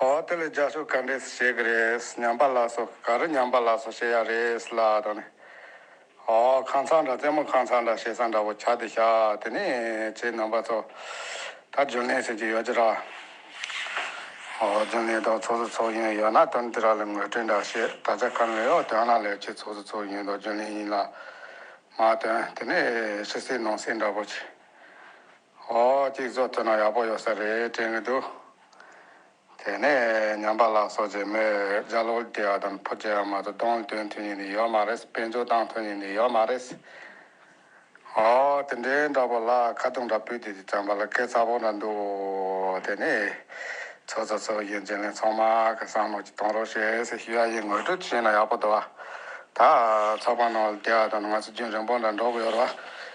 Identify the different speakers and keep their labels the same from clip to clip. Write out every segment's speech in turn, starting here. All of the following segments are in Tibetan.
Speaker 1: ཨོ་དེ་ལས་རྒྱ་ཤོག་ག་འདྲས་བྱེད་གི་རེད་ཉམས་པ་ལགས་སོ་ག་རེ་ཉམས་པ་ལགས་སོ་བྱེད་ཡག་རེད་ལ་དང་ནི། ཨོ་ཁང་ཚག་འདྲ་རྩེད་མོ་ཁང་ཚག་འདྲ་བྱེད་ས་འདྲ་བོ་ཆགས་དེ་ཤག་དེ་ནས་ཁྱེད་རྣམ་པ་ཚོ་ད་རྒྱུན་ལས་བྱེད་ཀྱི་ཡོད་ཀྱི་ར། ཨོ་རྒྱུན་ལས་དང་ཚོགས་སུ་ཚོགས་ཡུན་ཡོད་ན་དོན་དེ་ར་ལ་ངོས་སྤྲོད་འདྲ་བྱེད་ད་ཆ་གང་ལས་ཡོད་དོན་ར་ལས་བྱེད་ཚོགས་སུ་ཚོགས་ཡུན་དང་རྒྱུན་ལས་ཡིན་ལ། མ་དོན་དེ་ནས་ཕྱི་སེ་ནང་སེ་འདྲ་བོ་བྱེད། ཨོ་གཅིག་བཟོ་ཐུབ་ན་ཡག་པོ་ཡོད་ས་རེད་དྲན་གྱི་འདུག་དེ་ནས་ཉམས་པ་ལགས་སོགས་ཀྱིས་མོས་ལྗགས་ལོག་བསྡད་ཡ་དང་ཕོ་སྐྱེས་ཡ་མ་གཏོགས་གདོང་སྟོན་ཐུབ་ངེས་ནི་ཡོད་མ་རེད་དཔེ་འཇོག་བཏང་ཐུབ་ངེས་ནི་ཡོད་མ་རེད། ཨོ་དེ་འདྲའི་འདྲ་པོ་ལགས་ཁ་རྡུང་འདྲ་བུས་དེ་དེ་བྱམས་པ་ལ་སྐད་ཚ་བོ་འདྲ་འདུག་དེ་ནས་ཚོ་ཚོ་ཚོ་གཞོན་སྐྱེས་ལན་ཚང་མ་ག་གསང་ནོར་གྱི་གཏོང་རོགས་ཞེས་ཞུ་ཡ་ཡིན་ངོ་སྤྲོད་བྱས་ན་ཡག་པོ་འདུག་ད་ཚགས་པ་ནང་ལ་བསྡད་ཡ་དང་ང་ཚོ་རྒྱུན་རིང་པོ་འདྲ་འགྲོ་གི་ཡོད་རེད་བ།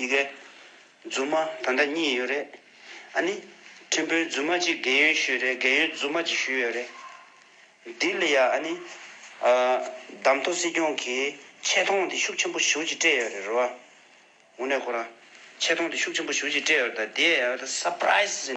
Speaker 2: ཡི་གེ། རྫུན་མ་ད་ལྟ་གཉིས་ཡོད་རེད། ཨ་ནི། ཁྲིམས་དཔོན་རྫུན་མ་གཅིག་རྒན་ཡོལ་ཞུས་རེད་རྒན་ཡོལ་རྫུན་མ་གཅིག་ཞུས་ཡོད་རེད། ལྡི་ལི་ཡ་ཨ་ནི། བདམས་ཐོ་སྲིད་སྐྱོང་གིས་ཆེ་མཐོང་དེ་ཤུགས་ཆེན་པོ་ཞུ་ཅིག་སྤྲད་ཡོད་རེད་རོ། ཝུ་ནེ་ཁོ་ར། ཆེ་མཐོང་དེ་ཤུགས་ཆེན་པོ་ཞུ་ཅིག་སྤྲད་ཡོད་རེད་ད་དེ། Surprise།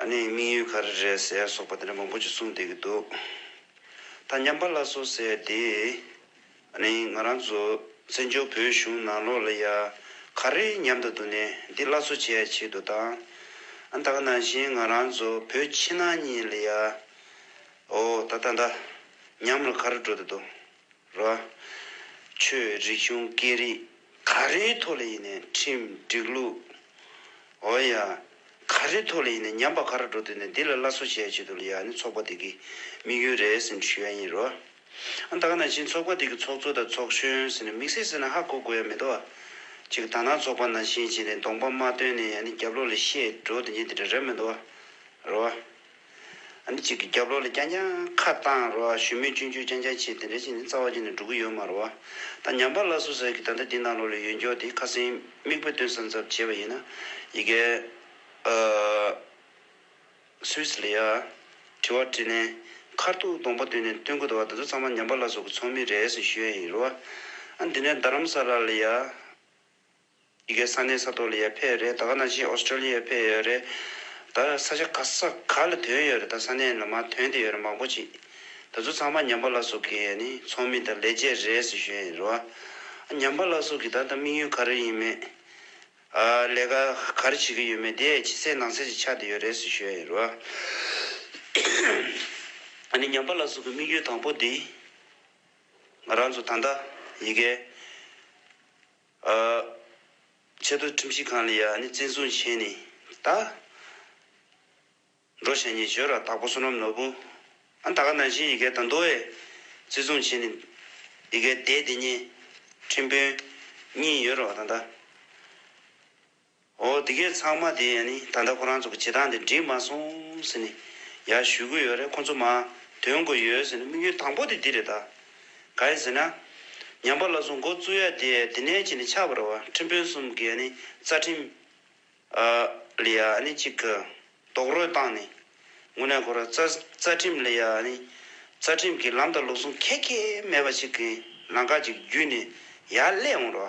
Speaker 2: ཨ་ནེའི་དམིགས་ཡུལ་ག་རེ་རེད་ཟེར་སོགས་པ་དེ་འདྲ་མང་པོ་ཅིག་གསུངས་བསྡད་ཀྱི་འདུག་ད་ཉམས་པ་ལ་སོ་ཟེར་དེ། ཨ་ནེ་ང་རང་ཚོ་བཙན་བྱོལ་བོད་གཞུང་ནང་ལོགས་ལ་ཡ་ག་རེ་ཉམས་དང་འདུག་ནས་འདི་སླར་གསོ་བྱས་ཆེད་དུ་དང། ཨ་ད་ག་ནང་བཞིན་ང་རང་ཚོ་བོད་ཕྱི་ནང་གཉིས་ལ་ཡ། ཨོ་ད་ད་ད། ཉམས་ལ་ག་རེ་འགྲོ་བསྡད་འདུག་ར། ཆོས་རིག་གཞུང་སྐད་རིགས་ག་རེའི་ཐོག་ལ་ཡིན་ནས་ཁྲིམས་སྒྲིག་ལུགས། འོ་ཡ། ག་རེའི་ཐོག་ལ་ཡིན་ནས་ཉམས་པ་ག་རེ་འགྲོ་དུས་ནས་འདི་ལ་བླ་གསོ་བྱས་བྱེད་དུ་ལ་ཡ་ནི་ཚོགས་པ་དེ་གི་དམིགས་ཡུལ་རེད་ཟེར་ནས་ཞུ་ཡ་ཡིན་རོ། ཨ་ད་ག་ནང་བཞིན་ཚོགས་པ་དེ་གི་ཚོགས་གཙོ་དང་ཚོགས་གཞོན་ཟེར་ནས་མིག་སེར་ཟེར་ན་ཧ་གོ་དགོས་ཡ་མེད་དོ། ཅིག་ད་ནང་ཚོགས་པ་ནང་བཞིན་བྱས་ནས་གདོང་པ་མ་སྟོན་ནས་ཡ་ནི་རྒྱབ་ལོག་ལ་བཤད་འགྲོ་དེ་ཉིད་དེ་འདྲ་རེད་མེད་དོ། རོ། ཨ་ནི་གཅིག་གི་རྒྱབ་ལོག་ལ་རྐྱང་རྐྱང་ཁ་བཏང་རོ། ཞུ་མོད་ཅུན་ཅུན་རྐྱང་རྐྱང་བྱས་དེ་འདྲ་བྱས་ནས་རྩ་བ་ཅན་ནས་འགྲོ་གི་ཡོད་མ་རོ། ད་ཉམས་པ་སླ་སུ་ཟེར་གི་ད་ལྟ་འདི་ནང་ལོག་ལ་ཡོད་མགྱོགས་དེ་ཁ་སེང་མིག་དཔེ་སྟོན་སར་འཛབ་བྱས་པ་ཡིན་ན། ཡི་གེ། Swiss ལ་ཡ། དྲི་བ་དྲིས་ནས། མཁར་ཐུག་སྡོང་པོ་དོད་ནས་སྟོན་དགོས་ད་བ་ད་ཚོ་ཚང་མ་ཉམས་པ་སླ་སུ་གི་ཚོགས་མི་རེད་ཟེར་ཞུ་ཡ་ཡིན་རོ། ཨ་འདི་ནས་རྡ་རམ་ས་ལ་ལ་ཡ། འདི་གའི་ས་གནས་ས་ཐོག་ལ་ཡོད་ཕེ་རེད་ད་ག་ནང་བཞིན Australia ཡོད་ཕེ་ཡོད་རེད་ད་ས་ཆ་ག་ས་ག་ལ་དོན་ཡོད་རེད་ད་ས་གནས་ལ་མ་དོན་དེ་ཡོད་རེད་མང་པོ་ཅིག་ད་ཚོ་ཚང་མ་ཉམས་པ་ལ་སོགས་ཀྱི་ནི་ཚོགས་མི་དང་ལས་བྱེད་རེད་ཟེར་ཞོན་ཡོད་རེད་བ་ཨ་ཉམས་པ་ལ་སོགས་ཀྱི་ད་ལྟ་དམིགས་ཡུལ་ག་རེ་ཡིན་མེད་ཨ་ལས་ཀ་ག་རེ་བྱེད་ཀྱི་ཡོད་མེད་དེ་ཡས་ཕྱི་སའི་ནང་སའི་ཅིག་ཆགས་དེ་ཡོད་རེད་ཟེར་ཞོན་ཡོད་རེད་བ་ཨ་ནི་ཉམས་པ་ལ་སོགས་ཀྱི་དམིགས་ཡུལ་དང་པོ་དེ་ང་རང་ཚོ་ད་ལྟ་ཡི་གེ། ཆེས་མཐོའི་ཁྲིམས་ཞིབ་ཁང་ལ་ཡང་ནི་བཙན་བཟུང་བྱས་ནས་ད། འགྲོ་བྱ་ཉེས་སྤྱོད་ར་དྭགས་པོ་བསོད་ནམས་ནོར་བུ། ད་ག་ནང་བཞིན་ཡི་གེ་དང་མདོ་བས་བརྩི་བཟུང་བྱས་ནས། ཡི་གེ་དེ་དེ་ཉིད་ཁྲིམས་དཔོན་གཉིས་ཡོད་རུང་བ་དང་ད། ཨོ་དེ་གས་ཚང་མ་དེ་ཡན་ནི་ད་ལྟ་ཁོ་རང་ཚོ་གི་བྱེད་སྟངས་དེ་འགྲིག་མ་སོང་ཟེར་ནི་ཡ་ཞུས་གི་ཡོད་རེད་ཁོ་ཚོ་མ་དོན་དགོས་ཡོད་ཟེར་ནི་དམིགས་ཡུལ་དང་པོ་དེ་འདི་རེད་ད་ག་ཡིན་ཟེར་ན། ཉམས་པ་ལ་སོ་མགོ་བཙུགས་ཡ་དེ་ཡ་དེ་ནས་ཀྱི་ནི་ཆགས་པ་རེད་བ་ཁྲིམས་དཔོན་གསུམ་གི་ཡ་ནི་རྩ་ཁྲིམས་ཨ་ལི་ཡ་ནི་གཅིག་གི་རྡོག་རོལ་བཏང་ནི་ངུ་ནས་ཁོ་ར་རྩ་རྩ་ཁྲིམས་ལི་ཡ་ནི་རྩ་ཁྲིམས་གི་ལམ་དང་ལུགས་ཟུང་ཁད་ཁད་མེད་པ་ཅིག་གི་ལང་ཀ་ཅིག་བརྒྱུད་ནི་ཡ་སླེབས་འོང་ར་བ་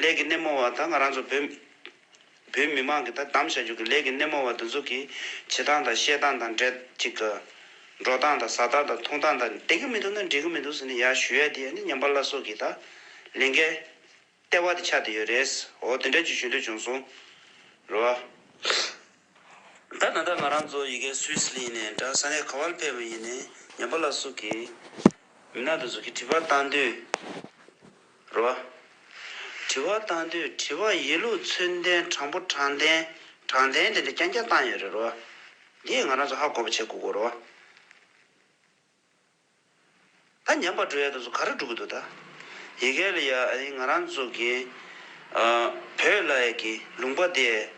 Speaker 2: ལས་ཀྱི་སྣེ་མོ་བ་དང་ང་རང་ཚོ་བོད་བོད་མི་མང་གིས་དོ་དམ་བྱ་རྒྱུ་གི་ལས་ཀྱི་སྣེ་མོ་བ་འདི་ཚོ་གི་བྱེད་སྟངས་དང་བཤད་སྟངས་དང་འབྲེལ་ཅིག་གི། འགྲོ་སྟངས་དང་ཟ་སྟངས་དང་འཐུང་སྟངས་དང་བསྡད་ཀྱི་མི་འདུག་ན་འགྲིག་གི་མི་འདུག་ཟེར་ནས་ཡར་ཞུ་ཡ་དེ་ཡ་ནི་ཉམས་པ་ལ་སོགས་ཀྱིས་ད་ལན་གྱི་ལྟེ་བ་དེ་ཆགས་བསྡད་ཡོད་རེད། འོ་དེ་འདྲ་ཅིག་ཞུ་འདོད་བྱུང་སོང། རེད་བ། ད་ནང་ད་ང་རང་ཚོ་ཡི་གེ་སུས་ལི་ཡིན་ནས་འདྲ་ས་ནས་ག་བར་ཕེབས་ཡིན་ནས་ཉན་པ་ལ་སུ་གི་མི་ནག་དུ་ཟུག་གི་དྲི་བ་བཏང་དུས་རོ། དྲི་བ་བཏང་དུས་དྲི་བ་ཡིན་ལུགས་ཚུལ་ལྡན་དྲང་པོ་དྲང་བདེན་དྲང་བདེན་དེ་འདྲ་རྐྱང་རྐྱང་བཏང་ཡོད་རེད་རོ། འདིས་ང་རང་ཚོ་ཧ་གོ་བ་བྱེད་དགོས་གོ་རོ། ད་ཉམས་པར་འགྲོ་ཡ་དང་ཚོ་ག་རེ་འགྲོ་གི་འདུག་ད། ཡི་གེ་ལ་ཡ་ཨ་ང་རང་ཚོ་གི། བོད་ལ་ཡ་གི་ལུང་པ་དེ།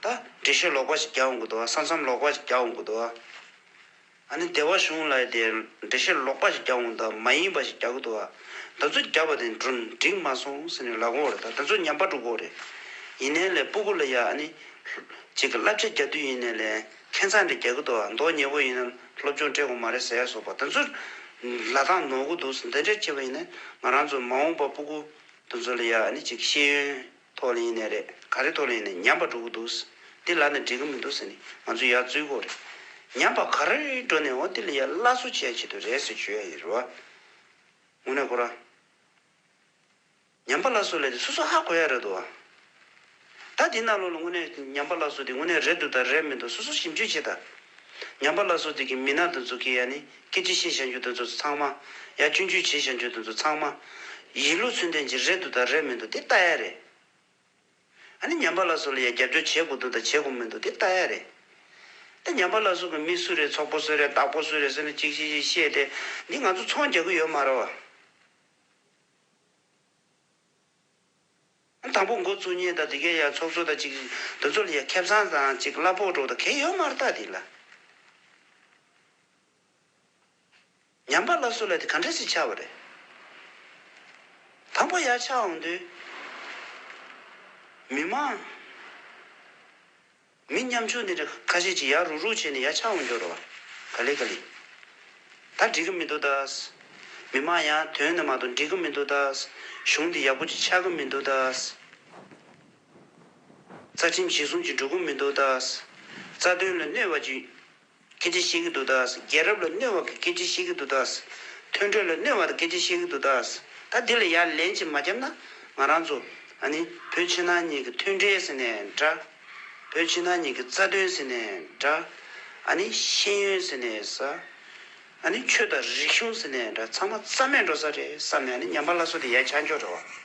Speaker 2: ད་འབྲི་ཤོད་ལོག་པ་ཞིག་རྒྱག་འོང་གི་འདུག་ཨ་ས་མཚམས་ལོག་པ་ཞིག་རྒྱག་འོང་གི་འདུག་ཨ། ཨ་ནི་སྡེ་བ་གཞུང་ལ་ཡ་དེ་འབྲི་ཤོད་ལོག་པ་ཞིག་རྒྱག་འོང་ད་མ་ཡིན་པ་ཞིག་རྒྱག་གི་འདུག་ཨ། ད་ཚོ་རྒྱག་པ་དེ་འགྲིག་མ་སོང་ཟེར་ནས་ལ་གོ་བ་རེད་ད་ད་ཚོ་ཉམས་པར་འགྲོ་གི་འོ་རེད། ཡིན་ནའི་ལེ་སྤུ་གུ་ལ་ཡ་ཨ་ནི། ཅིག་གི་བསླབ་བྱ་རྒྱག་དུས་ཡིན་ནའི་ལེ། ཁྱེད་ཚང་འདྲ་རྒྱག་གི་འདུག་མདོག་ཉེ་བོ་ཡིན་ན་སློབ་སྦྱོང་སྤྲད་དགོས་མ་རེད་ཟེར་ཡག་བཟོ་པ་དེ་ཚོ་ལ་དང་ནོར་གི་འདུག་འདི་འདྲའི་ཁྱེད་བ་ཡིན་ན་ང་རང་ཚོ་མ་འོངས་པ་སྤུ་གུ་དེ་ཚོ་ལ་ཡ་ནི་ཅིག་ཤེས་ཡོན་ཐོག་ལ་ཡིན་ནས་རེད་ག་རེ་ཐོག་ལ་ཡིན་ནས་ཉམས་པ་འགྲོ་གི་འདུག་འདི་ལ་ནི་འགྲིག་གི་མི་འདུག་ཟེར་ནས་ང་ཚོ་ཡར་བཙུད་དགོས་རེད་ཉམས་པ་ག་རེ་འགྲོ་ནས་འོ་འདི་ལ་ཡ་སླ་བཟོ་བྱས་ཡ་བྱེད་འདོད་རེད་ཟེར་ཞུ་ཡ་ཡིན་རེད་བ། དངོས་གནས་ཁོ་རང། ཉམས་པ་ལ་སོགས་ལས་དེ་སོ་སོ་ཧ་གོ་ཡ་རེད་དོ། ད་དེ་ན་ལོ་ལ་དངོས་གནས་ཉམས་པ་ལ་སོགས་དེ་དངོས་གནས་རེད་འདུག་དང་རེད་མི་འདུག་སོ་སོ་ཞིབ་འཇུག་བྱེད་ད། ཉམས་པ་ལ་སོགས་དེ་གི་མི་ནག་འདི་ཚོ་གི་ཡ་ནི་སྐད་ཅིག་ཤེས་བྱ་འགྱུར་དེ་ཚོ་ཚང་མ། ཡ་སྐྱོན་བརྗོད་བྱེད་བྱ་འགྱུར་དེ་ཚོ་ཚང་མ། ཡིད་ལུས་ཚོད་འདན་གྱི་རེད་འདུག་དང་རེད་མི་འདུག་དེ་ལྟ་ཡ་རེད། ཨ་ནི་ཉམས་པ་ལ་སོགས་ལ་ཡ་རྒྱབ་སྐྱོར་བྱེད་དགོས་འདུག་དང་བྱེད་དགོས་མི་འདུག་དེ་ལྟ་ཡ་རེད། ད་ཉམས་པ་ལ་སོགས་གི་མི་སུ་རེད་ཚོགས་པོ་སུ་རེད་བདག་པོ་སུ་རེད་ཟེར་ན་ཅིག་ཤེས་ཤེས་ཤེས་ཏེ་འདི་ང་ཚོ་ཚོང་རྒྱག་གི་ཡོད་མ་རེད་བ། དང་པོ་མགོ་བཙུགས་ཉིན་དང་དེ་གའི་ཡར་ཚོགས་གཙོ་དང་གཅིག་འདུ་ཚོགས་ལ་ཡར་ཁེབས་བཟང་དང་གཅིག་གླ་ཕོགས་གྲོགས་དང་གེ་ཡོད་མར་བཏགས་དེ་ལ། ཉམས་པ་ལ་བསུ་ལ་དེ་ག་འདྲས་ཚིག་ཆགས་པ་རེད། དང་པོ་ཡར་ཆགས་འོང་དུས། མི་མང། མི་མཉམ་ཆུང་དེ་འདྲ་ཁ་ཤས་ཀྱིས་ཡར་རུག་རུག་བྱས་ནས་ཡར་ཆགས་འོང་འགྱུར་རོ། ག་ལེ་ག་ལེ། ད་འགྲིག་གི་མི་འདུག་ད། མི་མང་ཡང་དོན་ནི་མ་གཏོགས་འགྲིག་གི་མི་འདུག་ད། གཞུང་འདི་ཡག་པོ་ཅིག་ཆགས་གི་མི་འདུག་ད། རྩ་ཁྲིམས་གཞི་བཟུང་ཅིག་འགྲོ་གི་མི་འདུག་ད། རྩ་དོན་ལ་གནོད་བ་ཅིག། སྐད་ཅིག་ཤེས་ཀྱི་འདུག་ད། རྒྱལ་རབས་ལ་གནོད་བ་གི་སྐད་ཅིག་ཤེས་ཀྱི་འདུག་ད། མཐུན་གྲོས་ལ་གནོད་བ་དང་སྐད་ཅིག་ཤེས་ཀྱི་འདུག་ད། ད་འདི་ལ་ཡར་ལན་ཅིག་མ་རྒྱབ་ན། ང་རང་ཚོ། ཨ་ནི། བོད་ཕྱི་ནང་གཉིས་ཀྱི་མཐུན་འབྲེལ་ཟེར་ནས་འདྲ། བོད་ཕྱི་ནང་གཉིས་ཀྱི་རྩ་དོན་ཟེར་ནས་འདྲ། ཨ་ནི། ཤེས་ཡོན་ཟེར་ནས་ཟ། ཨ་ནི། ཆོས་དང་རིག་གཞུང་ཟེར་ནས་འདྲ་ཚང་མ་རྩ་མེད་འགྲོ་ས་རེད་བསམ་ནས་ཨ་ནི་ཉམས་པ་སླ་སོ་དེ་ཡ་ཆ་འཇོག་འགྲོ་བ།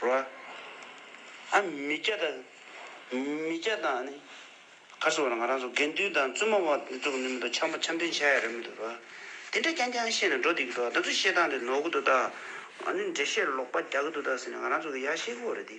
Speaker 2: རོ། ཨ་མི་སྐྱ་དང། མི་སྐྱ་དང་ནི། ཁ་སོ་ང་རང་ཚོ་དགེ་འདུན་དང་བཙུན་མ་བ་འདི་ཚོ་ནི་མི་འདུག་འཆམ་པོ་འཆམ་མཐུན་བྱ་ཡ་རེད་མི་འདུག་རོ། དེ་འདྲ་རྐྱང་རྐྱང་བཤད་ནས་འགྲོ་བསྡད་ཀྱི་འདུག་ད་ཚོ་བཤད་སྟངས་དེ་ནོར་གི་འདུག་ད། ཨ་ནི་འགྲེལ་བཤད་ལོག་པ་རྒྱག་གི་འདུག་ད་ཟེར་ནས་ང་རང་ཚོ་གི་ཡ་ཤེས་ཁོ་རེད་དེ།